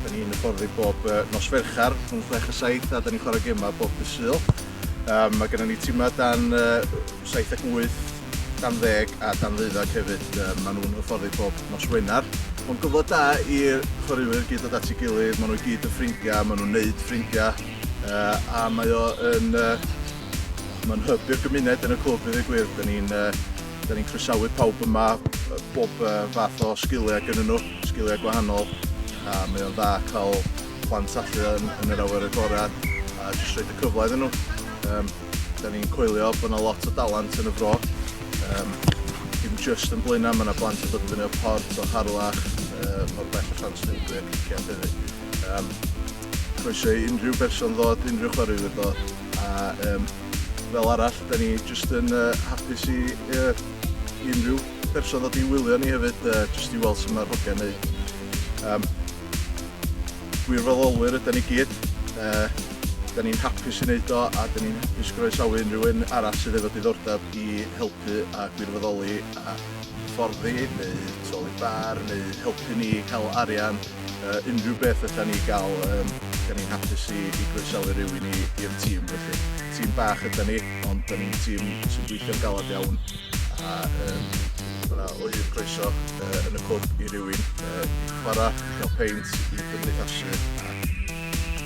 Da ni'n hyfforddi bob nos Fercher rhwng chwech a saith a da ni'n chwarae gemau bob dydd Sul. Um, mae gennym ni timau dan uh, 7 ac 8, dan ddeg a dan ddeuddag hefyd. Um, maen nhw'n hyfforddi bob nos Wener. Mae'n gyfle da i'r chwaraewyr gyd dod at ei gilydd, maen nhw gyd yn ffrindiau, maen nhw'n neud ffrindiau uh, a mae o yn uh, Mae'n hyb i'r gymuned yn y clwb i ddweud gwir. Da ni'n uh, Dan ni'n croesawu pawb yma, bob fath o sgiliau gyda nhw, sgiliau gwahanol, a mae o'n dda cael plant allu yn, yn yr awyr agored a jyst rhaid y cyfle iddyn nhw. Um, da ni'n coelio bod yna lot o dalant yn y fro, um, dim just yn Blaenau, mae yna blant yn dod i fyny o Port, o Harlech, uh, o'r bell o Llanslindwy ac Ician hefyd. Um, croeso i unrhyw berson ddod, unrhyw chwaraewyr ddod. A um, fel arall, da ni jyst yn uh, hapus i uh, unrhyw person ddod i wylio ni hefyd, uh, jyst i weld sy'n mae'r hogiau'n neud. Um, gwirfoddolwyr ydyn ni gyd, uh, da ni'n hapus i wneud o a da ni'n hapus groesawu unrhyw un arall sydd efo diddordeb i helpu a gwirfoddoli a fforddi neu troli bar neu helpu ni cael arian uh, unrhyw beth ydan ni gael, um, da ni'n hapus i, i groesawu rhywun i'r tîm felly. Tîm bach ydan ni, ond da ni'n tîm sy'n gweithio'n galad iawn a um, yna o hyd croeso uh, yn y cwb i rywun uh, i chwarae, i gael peint, i gymdeithasu a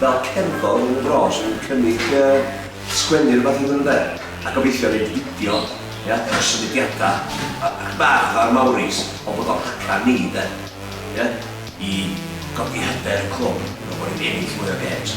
fel cerddor yn mynd yn ôl sy'n cynnig yy sgwennu rwbath i hwn 'de? A gobeithio neud fideo ia efo symudiada a ac bach fatha'r Mauris ond bod o'n haca ni 'de? Ia? I godi hyder y clwb i fel bo' ni'n ennill mwy o gêms.